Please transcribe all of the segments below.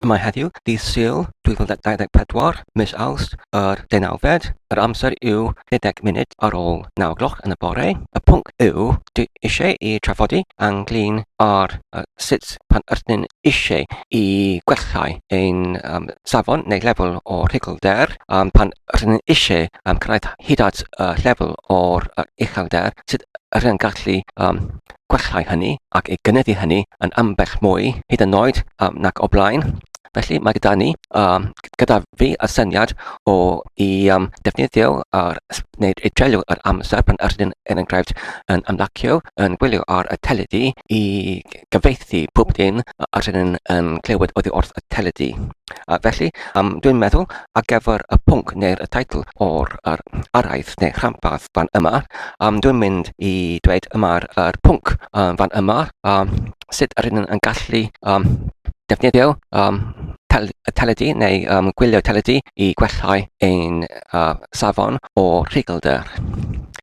Mae heddiw, dydd Sul 2024, mis Awst, yr deunawfed, yr amser yw 20 munud ar ôl 9 gloch yn y bore. Y pwnc yw, dwi eisiau i trafodi anglyn ar uh, sut pan ydyn eisiau i gwellhau ein um, safon neu lefel o rhugl-der, um, pan ydyn eisiau um, cyrraedd hyd at uh, lefel o'r uh, uchelder, sut ydyn gallu um, gwellhau hynny ac ei gynyddu hynny yn ambell mwy hyd yn oed um, nac o blaen. Felly mae gyda ni, um, gyda fi y syniad o i um, defnyddio ar, neu i dreulio yr amser pan yr ydyn yn enghraifft yn ymlacio, yn gwylio ar y teledu i gyfeithi pob dim yr ydyn yn clywed oddi wrth y teledu. A felly, um, dwi'n meddwl, ar gyfer y pwnc neu'r y teitl o'r yr araith neu rhanbarth fan yma, um, dwi'n mynd i dweud yma'r yr pwnc um, fan yma, um, sut yr hyn yn gallu um, defnyddio um, tel y teledu neu um, gwylio teledu i gwellhau ein uh, safon o rhigelder.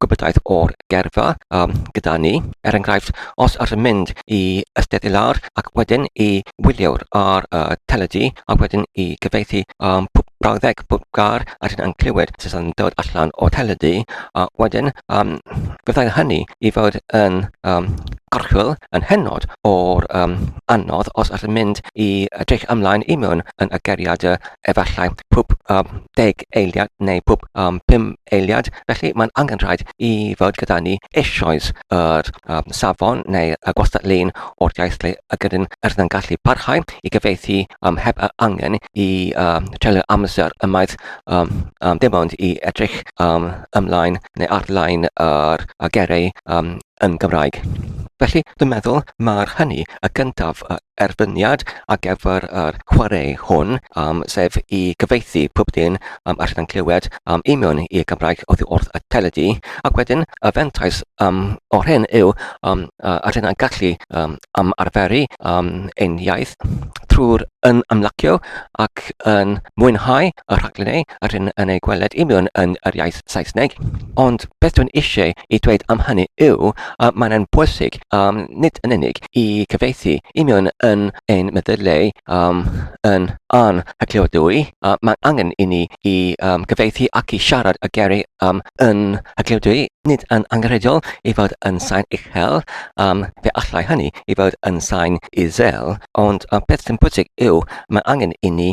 gwybodaeth o'r geirfa um, gyda ni. Er enghraifft, os yr yn mynd i Ysteddfod Ilar ac wedyn i wyliwr ar y uh, teledu a wedyn i gyfeithi um, brawddeg bob gar a dyn yn clywed sydd yn dod allan o teledu a wedyn um, byddai hynny i fod yn um, gorchwyl yn hynod o'r um, anodd os ydych yn mynd i edrych ymlaen i mewn yn y geriad efallai pwb um, deg eiliad neu pwb um, pum eiliad Felly, mae'n angenrhaid i fod gyda ni eisoes yr um, safon neu y gwastad-lein o'r iaith le y gydyn yr yn gallu parhau i gyfeithi um, heb yr angen i um, treulio amser ymaith um, um, dim ond i edrych um, ymlaen neu arlaen yr uh, gerau um, yn Gymraeg. Felly, dwi'n meddwl mae'r hynny y gyntaf y erbyniad ar gyfer yr chwarae hwn, um, sef i gyfeithi pob dyn um, allan yn clywed um, i mewn i'r Gymraeg oddi wrth y teledu, ac wedyn y fentais um, o'r hyn yw um, uh, a rydyn yn gallu um, am arferu um, ein iaith trwy'r yn ymlacio ac yn mwynhau y rhaglen ei yr hyn yn ei gweled union yn yr iaith Saesneg. Ond beth dwi'n eisiau i dweud am hynny yw y mae'n yn bwysig um, nid yn unig i cyfeithi union yn ein meddyliau um, yn an hygliodwy, uh, mae'n angen i ni i um, gyfeithi ac i siarad y geri um, yn hygliodwy, nid yn angenrheidiol i fod yn sain uchel, um, fe allai hynny i fod yn sain isel, ond uh, beth sy'n bwysig yw mae angen i ni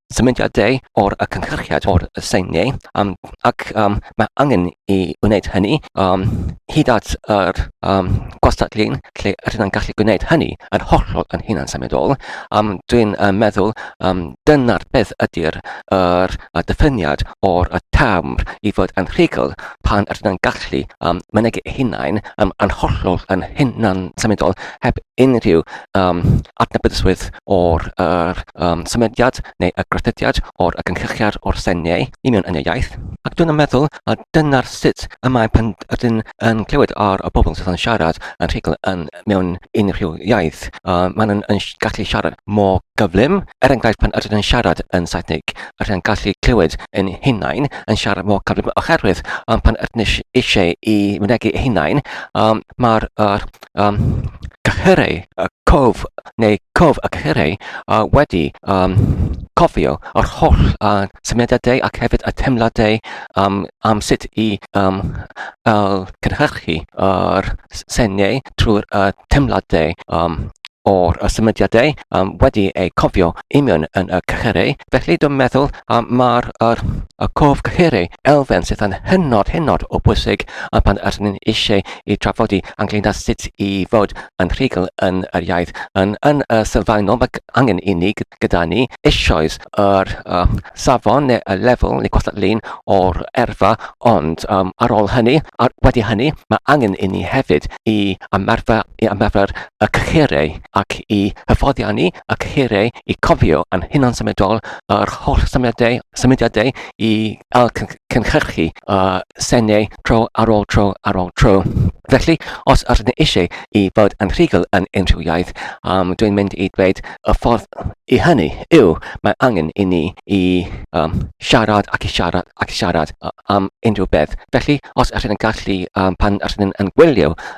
symudiadau o'r y cynhyrchiad o'r y seiniau um, ac um, mae angen i wneud hynny um, hyd at yr um, gwastad lun lle rydyn ni'n gallu gwneud hynny yn hollol yn hunan symudol. Um, Dwi'n uh, meddwl um, dyna'r beth ydy'r er, er, diffiniad o'r y term i fod yn rhugl pan rydyn ni'n gallu um, mynegu hunain um, yn hollol yn hunan symudol heb unrhyw um, adnabyddyswydd o'r yr, um, symudiad neu y grythydiad o'r y gynllychiad o'r seniau i mewn yn y iaith. Ac dwi'n meddwl a dyna'r sut y mae pan ydyn yn clywed ar y bobl sydd yn siarad yn rhugl yn mewn unrhyw iaith. Uh, maen nhw'n yn gallu siarad mor gyflym. Er enghraifft pan ydyn yn siarad yn Saesnig, rydyn gallu clywed yn hunain yn siarad mor gyflym oherwydd um, pan ydyn eisiau i mynegu eu hunain, um, mae'r uh, um, cyhyrau, uh, cof neu cof y cyhyrau uh, wedi um, cofio yr holl uh, symudiadau ac hefyd y teimladau um, am sut i um, uh, cynhyrchu yr uh, seniau trwy'r uh, teimladau um, o'r symudiadau um, wedi eu cofio union yn y cychyrau. Felly dwi'n meddwl um, mae'r er, y cof cychyrau elfen sydd yn hynod hynod o bwysig a pan ydyn ni'n eisiau i trafodi ynglyn â sut i fod yn rhugl yn yr iaith. Yn, yn y sylfaenol mae angen i ni gyda ni eisoes yr uh, safon neu y lefel neu gwastadlun o'r erfa ond um, ar ôl hynny, ar, wedi hynny mae angen i ni hefyd i ymarfer i ymarfer y cyhyrau ac i hyfforddiannu y cyhyrau i cofio yn hunansymiadol yr holl symudiadau, symudiadau i ail cynhyrchu y senau tro ar ôl tro ar ôl tro. Felly, os ydyn ni eisiau i fod yn rhugl yn unrhyw iaith, um, dwi'n mynd i dweud y ffordd i hynny yw mae angen i ni i um, siarad ac i siarad ac i siarad am unrhyw beth. Felly, os ydyn ni'n gallu, um, pan ydyn ni'n gwylio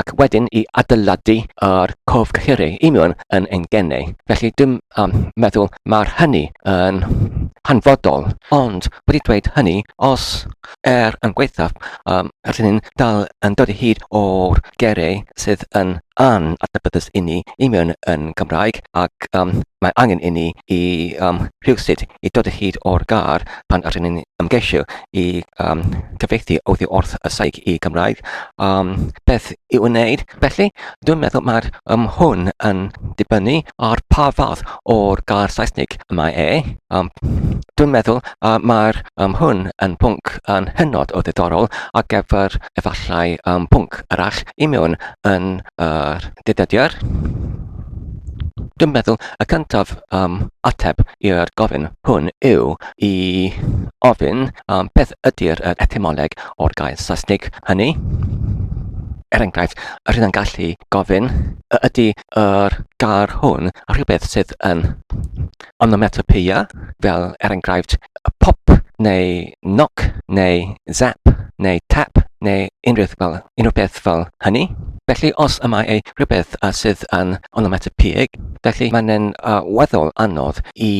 ac wedyn i adeiladu ar cof cyhyrru i mewn yn ein gennau. Felly dwi'n um, meddwl mae'r hynny yn hanfodol, ond wedi dweud hynny, os er yn gweithaf, um, rydyn ni'n dal yn dod i hyd o'r gerau sydd yn an adnabyddus inni i mewn yn Gymraeg ac um, mae angen inni i um, rhywsut i dod o hyd o'r gar pan rydyn ni'n ymgeisio i yym cyfieithu oddi wrth y Saig i Gymraeg yym beth i'w wneud. Felly, dwi'n meddwl mae'r yym hwn yn dibynnu ar pa fath o'r gair Saesnig mae e. Yym dwi'n meddwl yy mae'r yym hwn yn pwnc yn hynod o ddiddorol ar gyfer efallai yym pwnc arall i mewn yn yr dyddiadur. Dwi'n meddwl y cyntaf yym ateb i'r gofyn hwn yw i ofyn am beth ydy'r yr etymoleg o'r gair Saesnig hynny. Er enghraifft, yr hyn yn gallu gofyn y ydy yr gair hwn rhywbeth sydd yn onomatopeia, fel er enghraifft y pop neu knock neu zap neu tap neu unrhyw beth fel, unrhyw beth fel hynny. Felly os y mae ei rhywbeth sydd yn onomatopeig, felly mae'n uh, weddol anodd i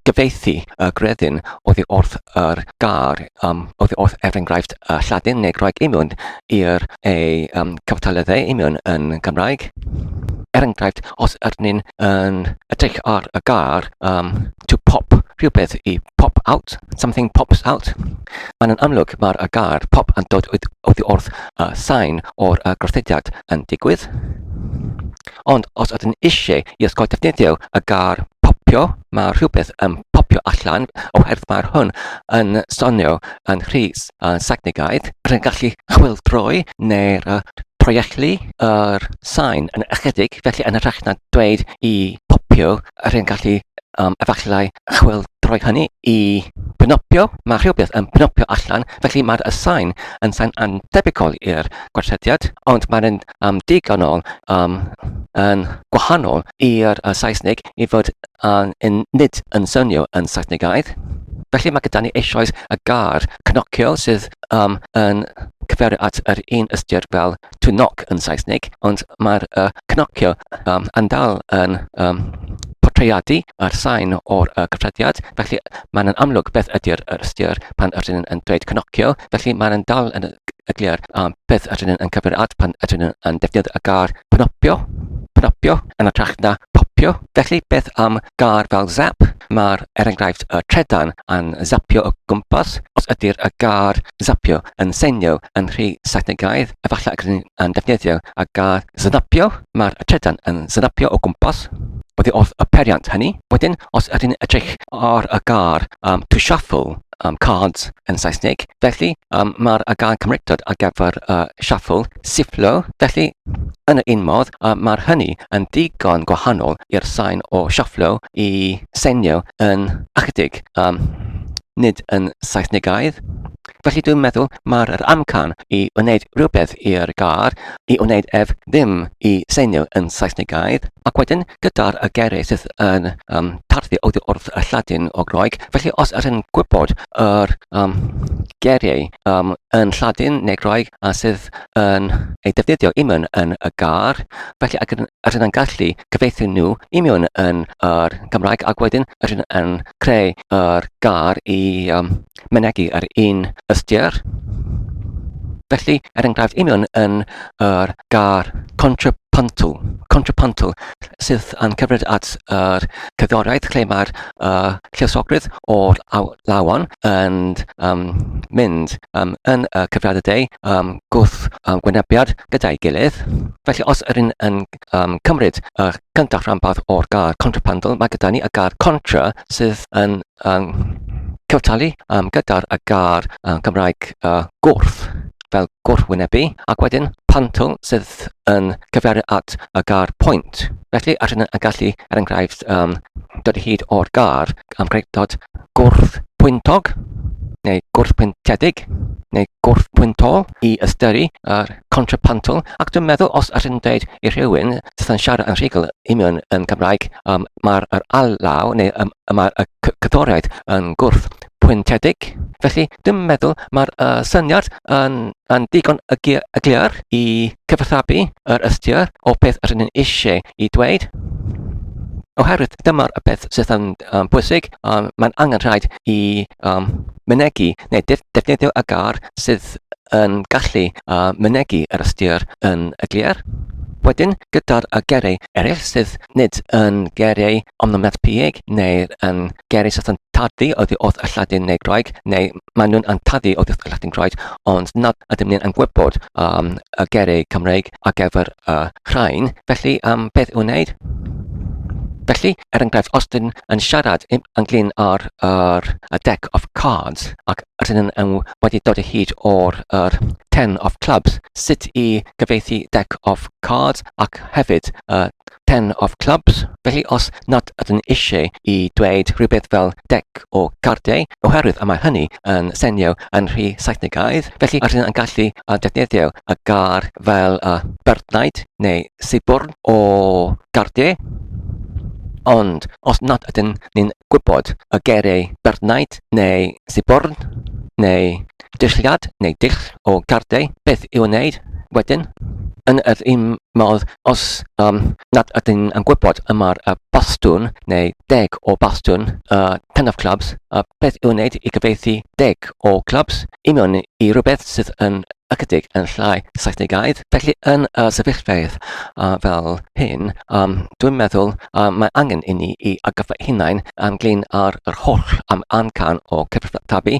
gyfieithu y gredyn oddi wrth yr gair, um, oddi wrth er enghraifft y Lladin neu Groeg imiwn i'r ei um, cyfartaledd imiwn yn Gymraeg. Er enghraifft, os ydyn ni'n yn edrych ar y gair um, to pop rhywbeth i pop out, something pops out, mae'n yn amlwg mae'r y gair pop yn dod oddi wrth y sain o'r y gorthydiad yn digwydd. Ond os ydyn ni isie i ysgol defnyddio y gair 'popio', mae rhywbeth yn popio allan oherwydd mae hwn yn sonio yn rhy Saesnigaidd. Rwy'n gallu chwyldroi neu proiectlu yr sain yn ychydig, felly yn hytrach na dweud 'i phopio', rwy'n gallu efallai chwyldroi hynny i 'pnopio'. Mae rhywbeth yn pnopio allan, felly mae'r sain yn sain annhebygol i'r gwaethrediad, ond mae'n... am digon o um, yn gwahanol i'r uh, Saesneg i fod um, yn, nid yn swnio yn Saesnegaidd. Felly mae gyda ni eisoes y gar cnocio sydd um, yn cyferu at yr un ystyr fel to knock yn Saesneg, ond mae'r uh, cnocio um, yn dal yn um, portreadu a'r sain o'r uh, cyffrediad, felly mae'n amlwg beth ydy'r ystyr pan ydyn yn dweud cnocio, felly mae'n dal yn y eglur am beth ydyn nhw'n cyfeirio at pan ydyn nhw'n defnyddio y gair 'pnopio', 'pnopio' yn hytrach na 'popio'. Felly, beth am gair fel 'zap'? Mae'r er-enghraifft y trydan yn zapio o gwmpas. Os ydy'r gair 'zapio' yn seinio yn rhy Saesnigaidd, efallai y rydyn ni'n defnyddio y gair 'snapio', mae'r trydan yn snapio o gwmpas oddi wrth y peiriant hynny. Wedyn, os ydyn ni'n edrych ar y gair 'to shuffle', um, cards yn Saesneg. Felly, um, mae'r gair Cymreictod ar gyfer uh, shuffle, sifflo. Felly, yn y un modd, uh, mae'r hynny yn ddigon gwahanol i'r sain o shufflo i senio yn ychydig, um, nid yn Saesnegaidd. Felly dwi'n meddwl mae'r amcan i wneud rhywbeth i'r gar, i wneud ef ddim i senio yn Saesnegaidd, ac wedyn gyda'r y gerydd sydd yn um, tarddu oddi wrth y Lladin o Groeg, Felly, os ydyn ni'n gwybod yr um, geriau um, yn Lladin neu Groeg a sydd yn ei defnyddio i mewn yn y gar, felly ac ydyn ni'n gallu cyfeithio nhw i mewn yn yr Gymraeg ac wedyn ydyn ni'n creu yr gar i um, mynegi yr un ystyr. Felly, er enghraifft, i mewn yn yr gar contrapuntal, contrapuntal, sydd yn cymryd at yr cerddoriaeth lle mae'r uh, lluosogrwydd o'r lawon yn um, mynd um, yn y cyfriadau deu um, gwth um, gwynebiad gyda'i gilydd. Felly os yr un yn um, cymryd y uh, cyntaf rhanbarth o'r gar contrapandol, mae gyda ni y gar contra sydd yn um, cyftalu um, gyda'r y gar um, Cymraeg uh, gwrth. fel gwrthwynebu, ac wedyn pantl sydd yn cyfeirio at y gar pwynt. Felly, allan yn gallu, er enghraifft, um, dod i hyd o'r gar am greictod gwrthpwyntog neu gwrthpwyntiedig neu gwrthpwyntol i ystyru yr contrapantl ac dwi'n meddwl os allan yn dweud i rhywun sydd yn siarad yn rhugl union yn Cymraeg um, mae'r alaw neu um, mae'r cyddoriaeth yn gwrth pwyntiedig. Felly, dwi'n meddwl mae'r uh, syniad yn, yn digon y glir i cyfathabu yr ystyr o beth yr ni'n eisiau i dweud. Oherwydd dyma'r peth sydd yn um, bwysig, um, mae'n angen rhaid i um, mynegu neu defnyddio y gar sydd yn gallu uh, mynegu yr ystyr yn y glir. Wedyn, gyda'r y gerau eraill sydd nid yn geiriau onomatopoeig neu yn geiriau sydd yn tarddu oddi wrth y Lladin neu Groeg, neu maen nhw'n antaddu oddi wrth y Lladin Groeg, ond nad ydym ni'n gwybod um, y geiriau Cymreig ar gyfer y uh, rhain. Felly, um, beth i'w wneud? Felly, er enghraifft, os dyn yn siarad ynglyn ar yr a deck of cards ac rydyn yn wedi dod o hyd o'r er, ten of clubs, sut i cyfieithu Deck of Cards ac hefyd y Ten of Clubs. Felly os nad ydyn eisiau i dweud rhywbeth fel deck o gardiau, oherwydd y mae hynny yn senio yn rhy Saethnegaidd, felly rydyn yn gallu defnyddio y gar fel y byrddnaid neu sibwrn o gardiau. Ond os nad ydyn ni'n gwybod y geiriau byrddnaid neu sibwrn neu Dulliad neu dull o gardiau beth i'w wneud wedyn, yn yr un modd os um, nad ydyn yn gwybod y mae'r uh, bastwn neu deg o bastwn y uh, tenaf clubs, uh, beth i'w wneud i gyfeithi deg o clubs i mewn i rhywbeth sydd yn ychydig yn llai Saesnigaidd. Felly yn y uh, sefyllfeydd uh, fel hyn, um, dwi'n meddwl uh, mae angen i ni i agaffa hunain ynglyn â'r yr holl am ancan o cyfathrebu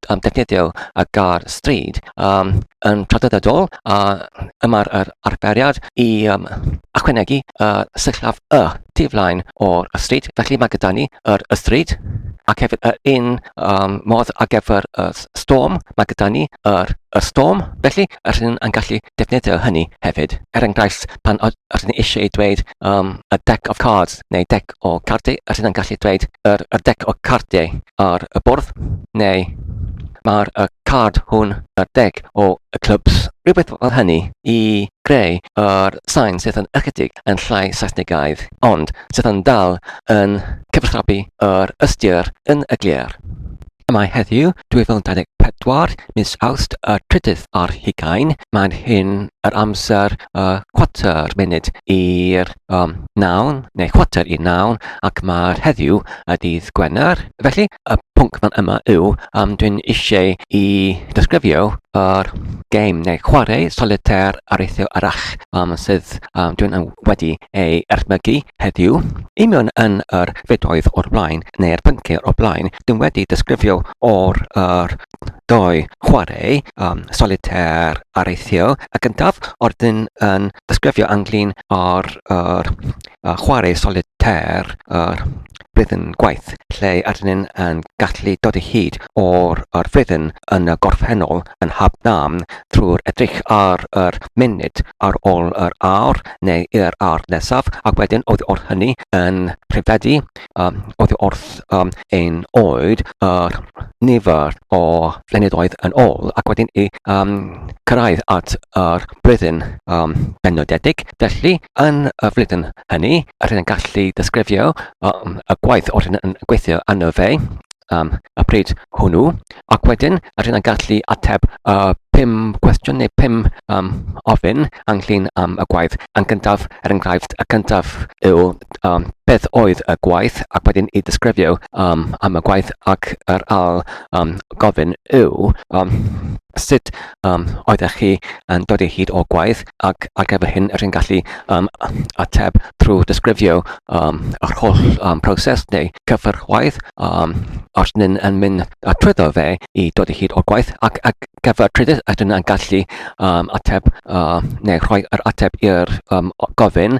um, defnyddio y gar stryd um, yn traddodiadol a yma'r yr arferiad i um, achwenegu y uh, syllaf y tu flaen o'r stryd. Felly mae gyda ni yr y stryd ac hefyd yr un um, modd ar gyfer y storm. Mae gyda ni yr y storm, felly yr un yn gallu defnyddio hynny hefyd. Er enghraifft, pan ydyn ni eisiau dweud um, a deck of cards neu deck o cardiau, a sydd yn gallu dweud yr, yr deg o cardiau ar y bwrdd, neu mae'r y card hwn ar deg o y clwbs, rhywbeth fel hynny, i greu yr sain sydd yn ychydig yn llai Saesnigaidd, ond sydd yn dal yn cyfathrebu yr ystyr yn y glir. Mae heddiw, 2024, mis Awst y trydydd ar hugain. Mae'n hyn yr amser y chwarter munud i'r um, nawn, neu chwarter i nawn, ac mae'r heddiw y dydd Gwener. Felly, y pwnc fan yma yw, um, dwi'n eisiau i ddisgrifio yr game neu chwarae solitaire areithio arach um, sydd um, dwi'n wedi ei erthmygu heddiw. I mewn yn yr fedoedd o'r blaen, neu'r pynciau o'r blaen, Dwi'n wedi disgrifio o'r yr dou chwarae yym solitaire a'r eithrio. Y gyntaf o'r dyn yn disgrifio ynglyn â'r yr yy chwarae solitaire yr rhythm gwaith lle arnyn yn gallu dod o hyd o'r yr rhythm yn y gorffennol yn hap nam trwy'r edrych ar yr munud ar ôl yr awr neu yr awr nesaf ac wedyn oddi wrth hynny yn prifedi oddi wrth ein oed a'r nifer o flynyddoedd yn ôl ac wedyn i cyrraedd at yr blwyddyn benodedig. Felly, yn y flwyddyn hynny, rydyn ni'n gallu disgrifio y gwaith oedden yn gweithio arno fe. am y pryd hwnnw, ac wedyn rydyn yn gallu ateb y pum cwestiwn neu pum um, ofyn ynglyn am y gwaith. Yn gyntaf, er enghraifft, y cyntaf yw um, beth oedd y gwaith ac wedyn i ddisgrifio um, am y gwaith ac yr al um, gofyn yw um, sut um, oeddech chi yn dod o hyd o gwaith ac ar gyfer hyn rydyn gallu um, ateb trwy disgrifio um, yr holl um, proses neu cyfer gwaith um, os ni'n yn mynd trwyddo fe i dod o hyd o gwaith ac ar gyfer trydydd ydyn yn gallu um, ateb uh, neu rhoi yr ateb i'r um, gofyn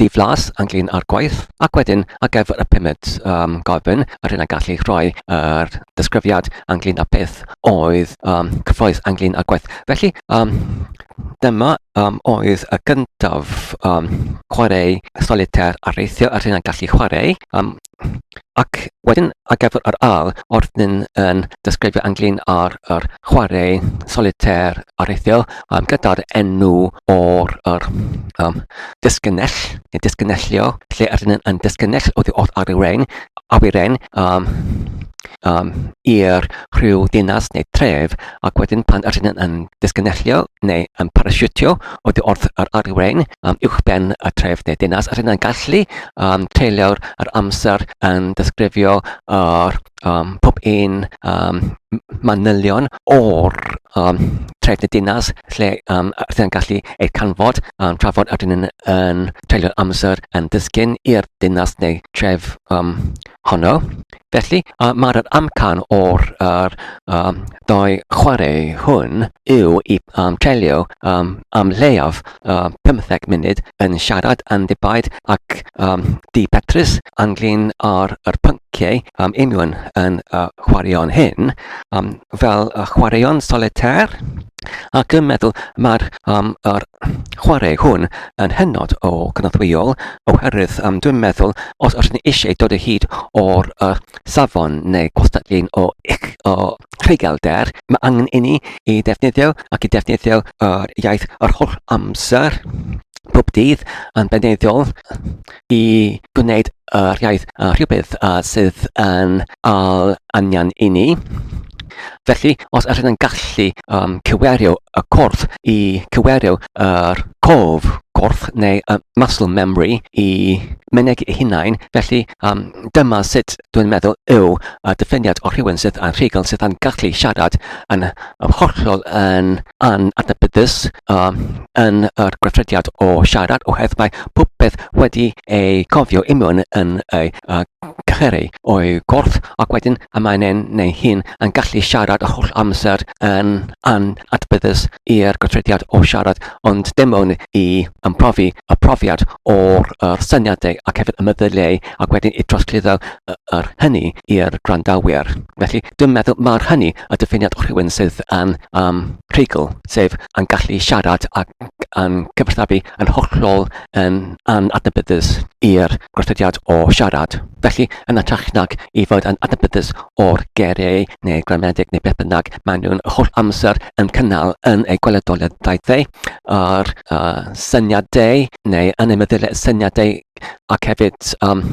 Dydd Las yn glin ar gwaith ac wedyn ar gyfer y pumed um, gofyn yr hyn a gallu rhoi yr disgrifiad ynglyn â beth oedd um, cyffroes ynglyn â gwaith. Felly, um, Dyma um, oedd y gyntaf um, chwarae solitaire a reithio yr hyn a gallu chwarae. Um, Ac wedyn ar gyfer yr ail, wrth ni'n yn disgrifio ynglyn â'r yr chwarae solitaire areithiol um, gyda'r enw o'r yr, um, disgynnell, neu disgynnellio, lle ydyn ni'n yn disgynnell oddi wrth awyren, awyren um, um, i'r rhyw ddinas neu tref, ac wedyn pan ydyn ni'n yn disgynnellio neu yn parasiwtio oddi wrth yr awyren, um, uwchben y tref neu dinas, a rhywun gallu um, treulio'r yr amser yn disgrifio yr, um, pob un um, manylion o'r um, tref neu dinas lle um, rhywun gallu eu canfod um, trafod a rhywun yn, yn treulio'r amser yn disgyn i'r dinas neu tref um, honno. Felly, uh, mae'r amcan o'r uh, um, dau chwarae hwn yw i um, treulio um, am leiaf uh, 15 munud yn siarad yn ddibaid ac um, di Petrus anglyn ar yr pynciau um, union yn y uh, chwaraeon hyn um, fel y uh, chwaraeon solitaire ac yn meddwl mae'r um, er, chwarae hwn yn hynod o gynorthwyol oherwydd um, dwi'n meddwl os ydych ni eisiau dod o hyd o'r uh, safon neu gwastadlun o, o rhygelder, mae angen i ni i ddefnyddio ac i ddefnyddio yr iaith yr holl amser bob dydd yn beneiddiol i gwneud yr iaith yn rhywbeth sydd yn ail angen i ni. Felly, os ydych chi'n gallu um, cywerio y corff i cywerio yr cof, corff neu y muscle memory i myneg ei hunain, felly um, dyma sut dwi'n meddwl yw y diffiniad o rhywun sydd yn rhugl sydd yn gallu siarad yn hollol yn anadnabyddus um, yn yr gweithrediad o siarad oherwydd mae pob peth wedi ei cofio i mewn yn ei uh, cycheru o'i gorff ac wedyn y mae'n en neu hun yn gallu siarad y holl amser yn an adbyddus i'r gweithrediad o siarad ond dim ond i ymprofi y profiad o'r er syniadau ac hefyd y meddyliau ac wedyn i drosglwyddo yr hynny i'r gwrandawyr. Felly dwi'n meddwl mae'r hynny y diffiniad o rhywun sydd yn um, rhugl, sef yn gallu siarad ac yn cyfathrebu yn hollol yn anadnabyddus i'r gostodiad o siarad. Felly, yn ytrach nag i fod yn adnabyddus o'r gereu neu gramedig neu beth bynnag, maen nhw'n holl amser yn cynnal yn eu gweledoliaeth daethau a'r uh, syniadau neu yn eu meddyliau syniadau ac hefyd um,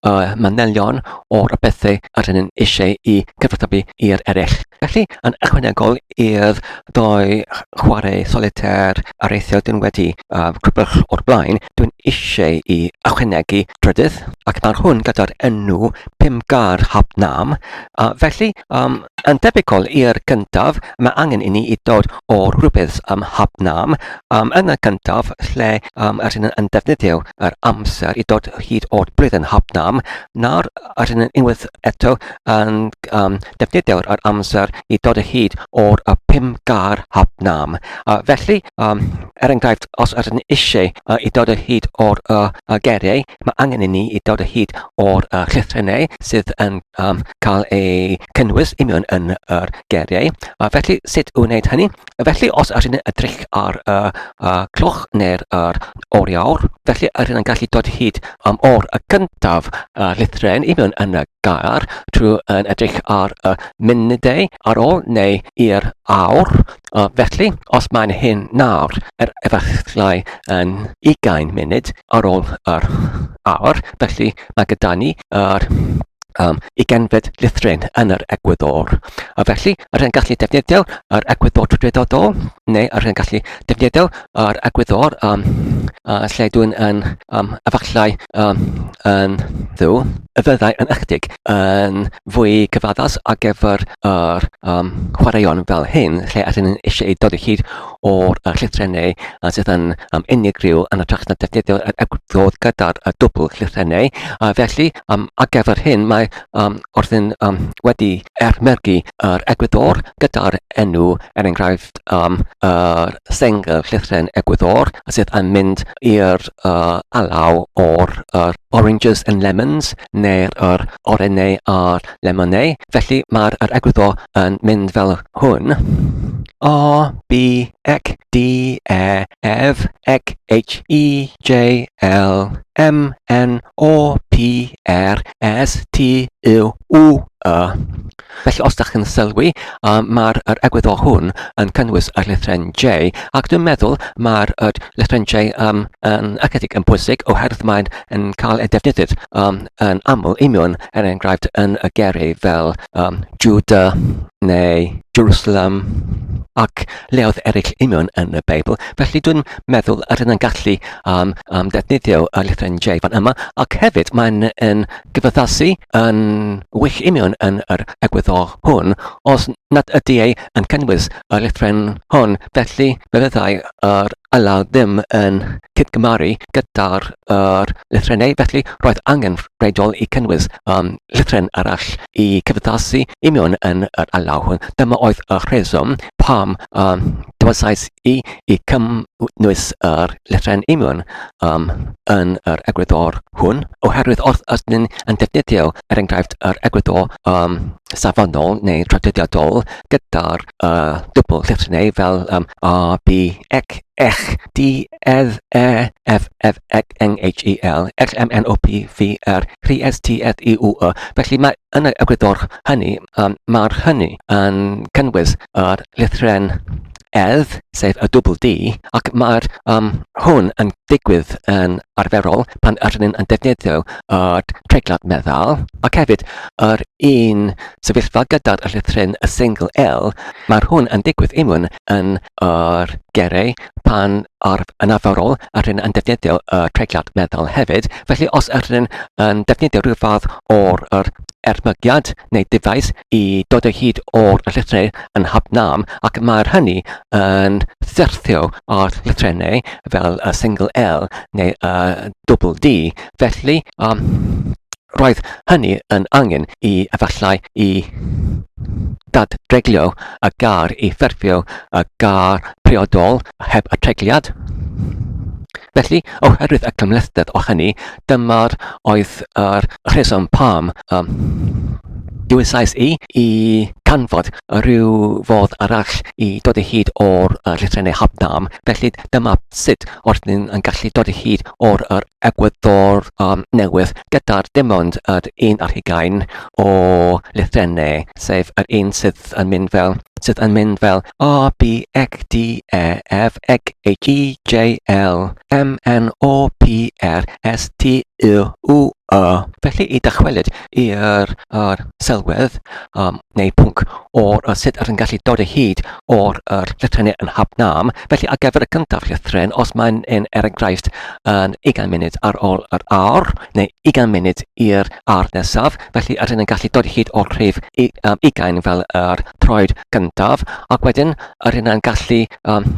uh, manylion o'r bethau yr hyn eisiau i cyfathrebu i'r eraill. Felly, yn ychwanegol i'r doi chwarae solitair ar eithio dyn wedi uh, crybwch o'r blaen, dwi'n eisiau i ychwanegu drydydd, ac mae'r hwn gyda'r enw Pimgar Hab Nam, a felly um, yn debygol i'r cyntaf, mae angen i ni i dod o'r rhywbeth am Hab Nam, um, yn y cyntaf lle um, a sy'n yn defnyddio yr amser i dod hyd o'r blwydd yn hapnam, nawr a sy'n yn unwaith eto yn um, defnyddio'r yr amser i dod hyd o'r y pum gar hapnam. A felly, um, er enghraifft, os ydych yn eisiau uh, i dod hyd o'r uh, uh, geriau, mae angen i ni i dod hyd o'r uh, llythrennau sydd yn um, cael eu cynnwys union yn yr geriau. A felly, sut wneud hynny? Felly, os ydyn ni'n edrych ar y uh, uh, cloch neu'r uh, oriawr, felly ydyn ni'n gallu dod hyd am o'r y cyntaf uh, llithren i mewn yn y gair trwy yn edrych ar y uh, munudau ar ôl neu i'r awr. Uh, felly, os mae'n hyn nawr, er efallai yn 20 munud ar ôl yr awr, felly mae gyda ni yr uh, am y genfed llythryn yn yr egwyddor. A felly, yr hyn gallu defnyddio yr egwyddor trydredodol, neu yr hyn gallu defnyddio yr egwyddor um, uh, lle dwi'n yn um, efallai um, yn ddu, y fyddai yn ychydig yn fwy cyfaddus ar gyfer yr um, chwaraeon fel hyn, lle ar hyn yn eisiau ei dod o hyd o'r uh, llythrennau uh, sydd yn um, unigryw yn y trach na defnyddio yr egwyddor gyda'r uh, dwbl llythrennau. A felly, Um, ar gyfer hyn, mae um, Orthin um, wedi ermergu yr egwyddor gyda'r enw, er enghraifft, um, yr sengl llythren egwyddor sydd yn mynd i'r uh, alaw o'r uh, oranges and lemons neu'r er, orennau a'r lemonau. Felly mae'r er egwyddor yn mynd fel hwn. A, B, ec, D, E, F, Ec, H, E, J, L, M, N, O, P, R, S, T, U, U, Y. Felly os da chi'n sylwi, um, mae'r er egwyddor hwn yn cynnwys yr lithren J, ac dwi'n meddwl mae'r er lithren J um, yn ychydig yn bwysig oherwydd mae'n yn cael ei defnyddio um, yn aml i mewn, er enghraifft, yn y gerau fel um, Judah neu Jerusalem. Ac lleoedd eraill union yn y Beibl. Felly dwi'n meddwl yr hyn yn gallu um, um, defnyddio y llythryn J fan yma, ac hefyd mae'n yn gyfaddasu yn wych union yn yr egwyddor hwn, os nad ydy ei yn cynnwys y llythryn hwn, felly fe fyddai yr alaw ddim yn cydgymaru gyda'r er, lythrennau, felly roedd angen rheidol i cynnwys um, llythryn arall i cyfaddasu union yn yr alaw hwn. Dyma oedd y rheswm pam um, dywasais i i cynnwys yr llethren imiwn um, yn yr egwyddor hwn, oherwydd wrth ydyn yn defnyddio, er enghraifft, yr egwyddor um, safonol neu traduddiadol gyda'r uh, dwbl llethrynau fel um, A, B, ec, ech, D, edd, e, f, f, ec, ng, h, e, l, x, m, n, o, p, v, r, rhi, s, t, eth, i, u, y. Felly mae Yn y gwydr hynny, um, mae'r hynny yn cynnwys yr lithren edd, sef y dwbl D, ac mae'r um, hwn yn digwydd yn arferol pan yr ni'n yn defnyddio y treiglad meddal, ac hefyd yr un sefyllfa gyda'r lithren y singl L, mae'r hwn yn digwydd unwaith yn yr gerau pan ar yn arferol yr hyn yn defnyddio y treigliad meddal hefyd. Felly os yr hyn yn defnyddio rhyw fath o'r yr ermygiad neu dyfais i dod o hyd o'r llythrenau yn hapnam ac mae'r hynny yn syrthio ar llythrenau fel y single L neu y double D. Felly, um, Roedd hynny yn angen i efallai i ddadreglio y gar i ffurfio y gar priodol heb y tregliad. Felly, oherwydd y cymhlethdeb o hynny, dyma'r oedd yr rheswm pam um, dywysais i i canfod rhyw fodd arall i dod o hyd o'r uh, llythrennau Habnam. Felly dyma sut oedd ni'n yn gallu dod o hyd o'r yr egwyddor um, newydd gyda'r dim ond yr un ar hugain o llythrennau, sef yr un sydd yn mynd fel sydd yn mynd fel A, B, E, D, E, F, e, G, A, G, J, L, M, N, O, P, R, S, T, U, U, Y. Felly i dychwelyd i'r yr sylwedd yym neu pwnc o'r yy sut rwy'n gallu dod o hyd o'r yr llythrennau yn Hab Nam. Felly ar gyfer y cyntaf llythren, os mae'n yn er enghraifft yn ugain munud ar ôl yr awr, neu ugain munud i'r awr nesaf, felly rydyn ni'n gallu dod o hyd o'r rhif u- yym ugain fel yr troed gyntaf, ac wedyn rydyn ni'n gallu yym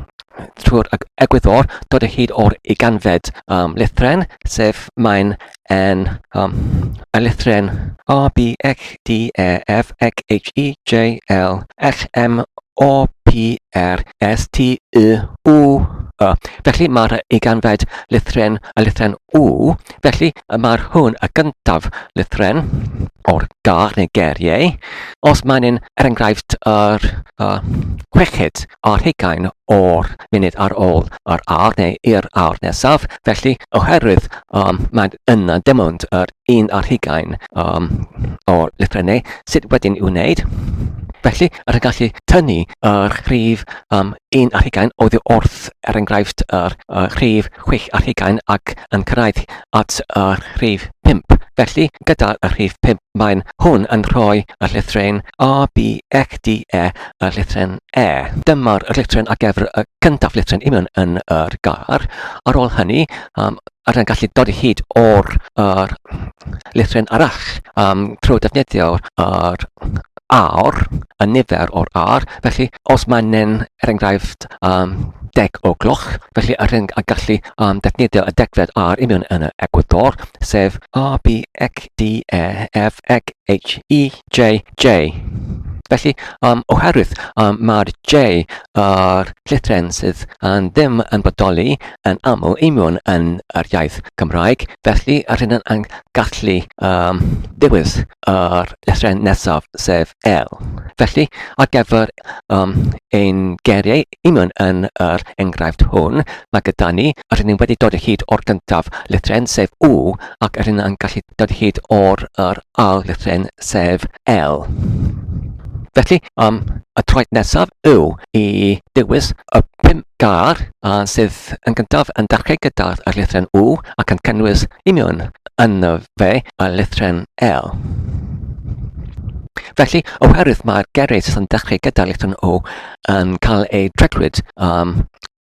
trwy'r eg- egwyddor dod o hyd o'r ugainfed yym lythren, sef mae'n N, um, a lythren A, B, X, D, E, F, X, H, E, J, L, X, M, O, P, R, S, T, U, U, Y. Felly mae'r eiganfed lythren a lythren U, felly mae'r hwn y gyntaf lythren o'r gar neu geriau. Os mae'n un, er enghraifft, yr uh, chweched a'r hugain o'r munud ar ôl yr ar neu i'r ar nesaf, Felly, oherwydd um, mae yna dim ond yr un ar hugain um, o lyffrennau sydd wedyn i'w wneud, Felly, yr yn gallu tynnu yr rhif um, 1 ar hugain oddi wrth, er enghraifft, yr uh, rhif 6 ar hugain ac yn cyrraedd at yr rhif 5. Felly, gyda'r rhif 5, mae'n hwn yn rhoi y llythryn A, B, X, D, E y llythryn E. Dyma'r llythryn a gefr y cyntaf llythryn i mewn yn yr gair. Ar ôl hynny, um, ar yn gallu dod hyd o'r er, llythryn arall um, trwy defnyddio'r er, ar, y nifer o'r ar. Felly, os mae'n nen, er enghraifft, um, deg o gloch, felly yr hyn a gallu um, defnyddio y degfed ar i mewn yn y egwyddor, sef A, B, X, D, E, F, X, H, E, J, J. Felly, um, oherwydd um, mae'r J a'r llythren sydd yn ddim yn bodoli yn aml union yn yr iaith Gymraeg, felly yr hyn yn gallu um, dewis yr llythren nesaf, sef L. Felly, ar gyfer um, ein geriau Union yn yr enghraifft hwn, mae gyda ni yr un wedi dod o hyd o'r gyntaf lythryn sef U ac yr un yn gallu dod o hyd o'r yr ail lythryn sef L. Felly, um, y traed nesaf yw i dewis y pum gar a sydd yn gyntaf yn dechrau gyda'r lythryn U ac yn cynnwys union yn y fe y lythryn L. Felly, oherwydd mae'r geres yn dechrau gyda'r lythryn O yn cael eu treclyd um,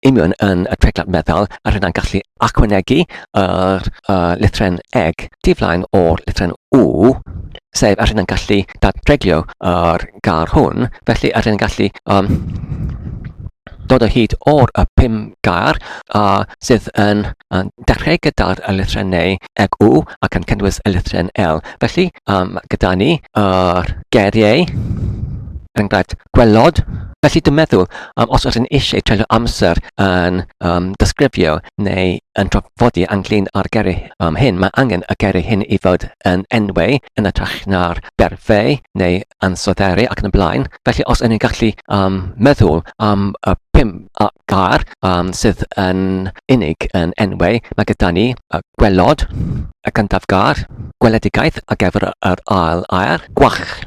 union yn y treclad meddal a rydyn gallu acwnegu yr uh, lithren eg diflaen o'r lithren u sef a rydyn gallu dadreglio yr gar hwn felly a rydyn gallu um, dod o hyd o'r y pum gair a sydd yn, yn dechrau gyda'r lithren neu eg u ac yn cynnwys y lithren L. Felly, um, gyda ni yr uh, geriau er enghraifft, gwelod. Felly dwi'n meddwl, um, os ydyn eisiau treulio amser yn um, disgrifio neu yn trafodi ynglyn â'r geru um, hyn, mae angen y geru hyn i fod yn enwau yn y trach na'r berfau neu ansodderu ac yn y blaen. Felly os ydyn ni'n gallu um, meddwl am y pum a gair um, sydd yn unig yn enwau, mae gyda ni y gwelod, y cyntaf gair, gweledigaeth a gefr yr ail air, gwach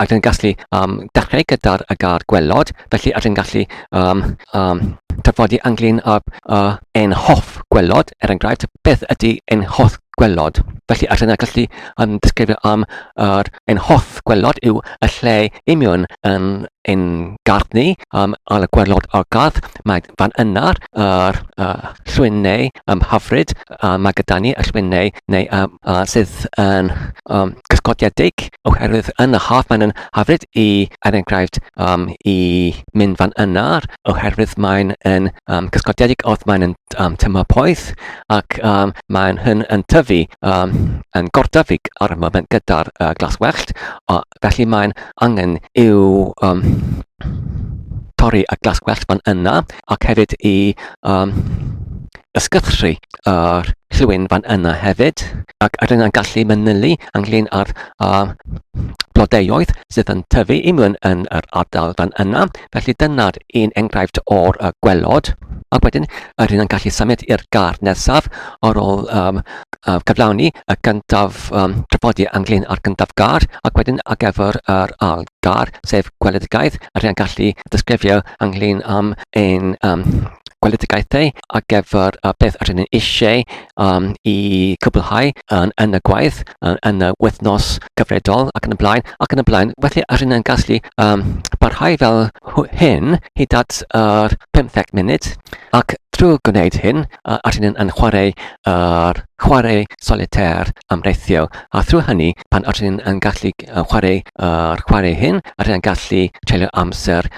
ac yn gallu um, dechrau gyda'r y gar gwelod, felly ac yn gallu um, um, tyfodi ynglyn â uh, ein hoff gwelod, er enghraifft, beth ydy ein hoff gwelod. Felly ac yn gallu um, disgrifio am yr uh, ein hoff gwelod yw y lle imiwn yn ein gardd ni, um, ar y gwelod o'r gardd, mae fan yna'r uh, llwyn neu um, hyfryd a mae gyda ni y llwynnau neu a, a sydd yn um, gysgodiedig oherwydd yn y haf mae'n yn hyfryd i er enghraifft um, i mynd fan yna oherwydd mae'n yn um, gysgodiedig oedd mae'n yn um, tymor poeth ac um, mae'n hyn yn tyfu um, yn gordyfu ar y moment gyda'r uh, glas wellt o, felly mae'n angen i'w um, torri y glas gwellt fan yna ac hefyd i um, ysgyrchu yr llwyn fan yna hefyd ac rydyn ni'n gallu manylu ynglyn â'r uh, blodeoedd sydd yn tyfu i mewn yn yr ardal fan yna. Felly dyna'r un enghraifft o'r uh, gwelod. Ac wedyn, rydyn ni'n gallu symud i'r gar nesaf ar ôl um, uh, cyflawni y gyntaf um, trafodi ynglyn â'r gyntaf gar ac wedyn ar gyfer yr ail gar, sef gweledigaeth, rydyn ni'n gallu disgrifio ynglyn am ein um, gweledigaethau ar gyfer y beth rydyn ni eisiau um, i cwblhau yn, yn y gwaith, yn, yn y wythnos gyfredol ac yn y blaen, ac yn y blaen. Felly rydyn ni'n gallu um, barhau fel hyn hyd at yr uh, 15 munud ac drwy gwneud hyn, uh, rydyn ni'n yn chwarae yr uh, chwarae solitaire amreithiol. A thrwy hynny, pan ydych chi'n gallu chwarae yr chwarae hyn, ydych chi'n gallu treulio amser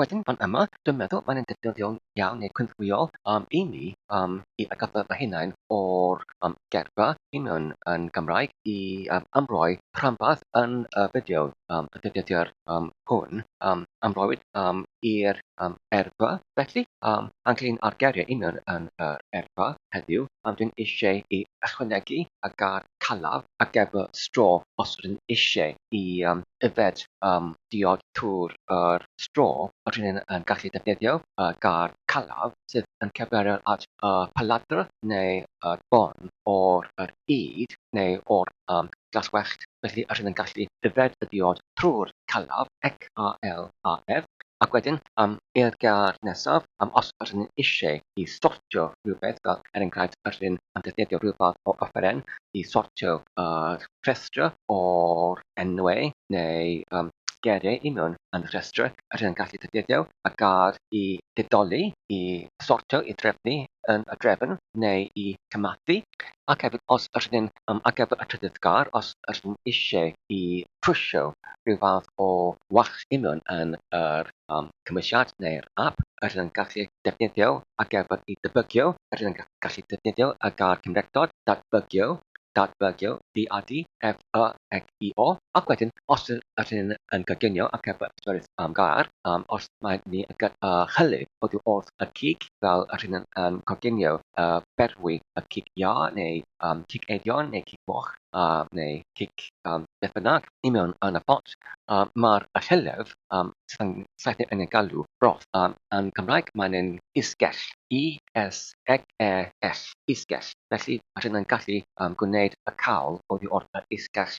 Wedyn fan yma, dwi'n meddwl mae'n un dedfrywiol iawn neu cynhwyol um, i ni um, i atgoffa fy hunain o'r um, geirfa union yn Gymraeg i um, amroi rhanbarth yn y fideo um, y defnyddiwr um, hwn um, amroiwyd um, i'r um, eirfa. Felly, um, ynglyn â'r geiriau union yn yr eirfa heddiw, um, dwi'n eisiau i ychwanegu a gar calaf a gefr straw os ydyn ni eisiau i yym yfed yym diod trwy'r yr straw ydyn ni yn gallu defnyddio y gair calaf sydd yn cyfeirio at y paladr neu y bôn o'r yr ŷd neu o'r yym glaswellt felly ydyn ni'n gallu yfed y diod trwy'r calaf, ec-a-l-a-f, Ac wedyn am i'r gair nesaf, am os yr ydyn ni eisiau i sortio rhywbeth, fel er enghraifft yr ydyn am ddefnyddio rhyw fath o offeren i sortio yr rhestr o'r enwau neu yym geiriau i mewn yn y rhestr, yr ydyn yn gallu defnyddio y gair i ddedoli, i sortio, i drefnu yn y drefn neu i gymharu. Ac hefyd os yr ydyn am ar gyfer y trydydd gair, os yr ydyn eisiau i trwsio rhyw fath o wall union yn yr cymwysiad neu'r ap yr rydyn yn gallu defnyddio ar gyfer y debygio yr rydyn yn gallu defnyddio y gair cymhlethdod datbygio datbygio di a di ef y eg i o ac wedyn os yr rydyn yn coginio ar gyfer pedwerydd gair os mae ni yn gy y hylif oddi wrth y cig fel yr rydyn yn coginio y berwi y cig iâ neu um, cic eidion neu cic moch um, neu cic um, beth bynnag i mewn yn y pot. Um, Mae'r rhellef um, sydd yn saethu yn ei galw broth. Um, yn Cymraeg mae'n yn isgell, I-S-G-E-L-L, isgell. Felly mae rhywun yn gallu um, gwneud y cawl oddi wrth yr isgell.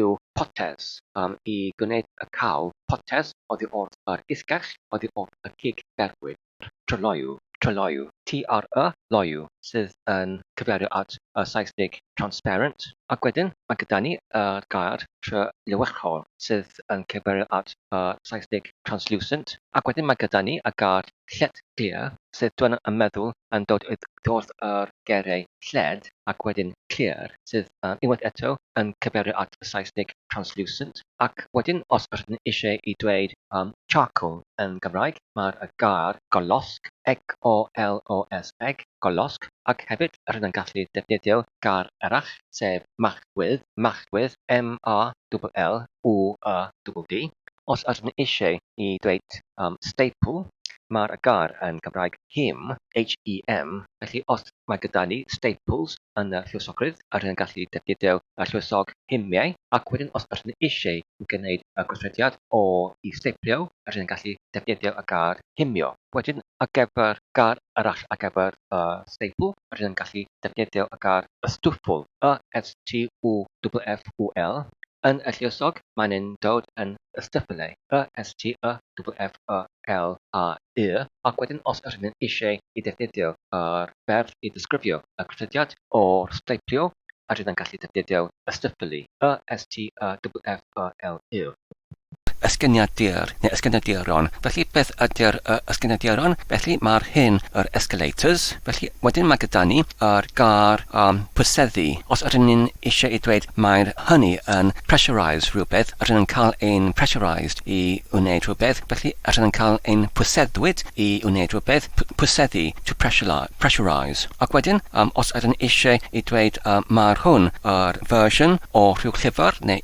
yw potes, am i gwneud y cawl potes oddi wrth yr isgell, oddi wrth y cig gerwyd, yr tryloyw, tryloyw, TRY loyw, sydd yn cyfeirio at y Saesneg transparent, ac wedyn mae gyda ni y gair tryloychol, sydd yn cyfeirio at y Saesneg translucent, ac wedyn mae gyda ni y gair Lled Clir, sydd dwyn y meddwl yn dod i ddwrth yr geiriau 'lled' ac wedyn 'clir', sydd unwaith eto yn cyfeirio at y Saesneg 'translucent', ac wedyn os rydyn ni eisiau i dweud 'charcoal' yn Gymraeg, mae'r gair 'golosg', G-o-l-o-s-g, golosg, ac hefyd rydyn ni'n gallu defnyddio gair arall, sef Machwydd, Machwydd, M-A-double-L-W-Y-D-D. Os ydyn ni eisiau i ddweud yym steipl, mae'r gair yn Gymraeg hem, H-E-M, felly os mae gyda ni staples yn y lluosogrwydd, ydyn ni'n gallu defnyddio y lluosog hemiau, ac wedyn os ydyn ni eisiau gwneud y gweithrediad o i steiplio, ydyn ni'n gallu defnyddio y gair hemio. Wedyn ar gyfer gair arall ar gyfer y steipl, rydyn yn gallu defnyddio y gair ystwffwl, Y-S-T-W-F-F-W-L, yn y lluosog, mae'n yn dod yn ystyffle, Y-S-T-Y-W-F-F-W-L-A-E, ac wedyn os rydyn yn eisiau i ddefnyddio yr ferf i ddisgrifio y cysylltiad o'r steiplio, rydyn yn gallu defnyddio ystwffli, Y-S-T-Y-W-F-F-W-L-Y. Ysgynyddiadur neu ysgynyddiaron, felly beth ydy'r y ysgynyddiaron? Felly mae'r hyn yr escalators, felly wedyn mae gyda ni yr gar a pwyseddu. Os ydyn ni'n eisiau i dweud mae'r hynny yn pressurise rhywbeth, ydyn yn cael ein pressurised i wneud rhywbeth, felly ydyn yn cael ein pwyseddwyd i wneud rhywbeth, p pwyseddu, to pressurise. Ac wedyn, um, os ydyn eisiau i dweud uh, mae'r hwn yr version o rhyw llyfr neu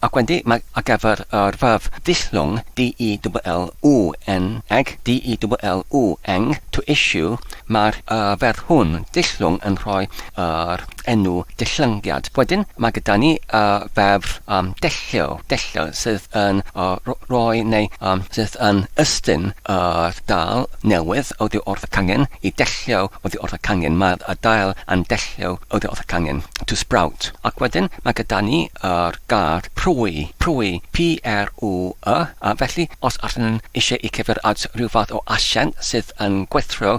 Ac wedi mag ar gyfer yr furf ddisgyn, DEWLYN, eg, DEWLYNG, to issue, mae'r y ferf hwn, ddisgyn, yn rhoi yr enw disgyngiad. Wedyn, mae gyda ni y ferf um, dellio, dellio, sydd yn y rhoi neu um, sydd yn ystyn yr dail newydd oddi wrth y cangen, i dellio oddi wrth y cangen, mae'r y dail yn dellio oddi wrth y cangen, to sprout. Ac wedyn, mae gyda ni ar gad, pry, pry, p-r-u-y, a felly, os ydyn nhw eisiau i cyfer at rhyw fath o asiant sydd yn gweithro,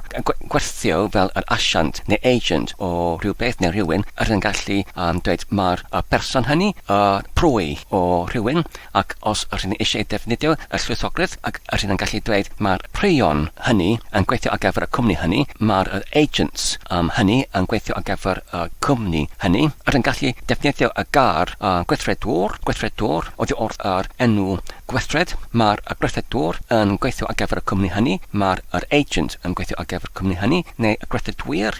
gweithio fel yr asiant neu agent o rywbeth neu rhywun, ydyn nhw'n gallu dweud mai'r person hynny, y pry, o rhywun, ac os yr hyn eisiau defnyddio y llwythogledd ac yr hyn yn gallu dweud mae'r prion hynny yn gweithio ar gyfer y cwmni hynny, mae'r yr agents um, hynny yn gweithio ar gyfer y cwmni hynny, yr yn gallu defnyddio y gair uh, gweithredwr, gweithredwr, oddi wrth yr enw gweithred, mae'r y gweithredwr yn gweithio ar gyfer y cwmni hynny, mae'r yr agent yn gweithio ar gyfer y cwmni hynny, neu y gweithredwyr,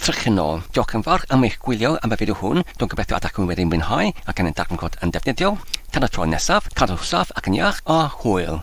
Trychinol. Diolch yn fawr am eich gwylio am y fideo hwn, dwi'n gobeithio y dach chi wedi mwynhau ac yn ein darganfod yn ddefnyddiol. Tan y tro nesaf, cadwch saff ac yn iach, a hwyl!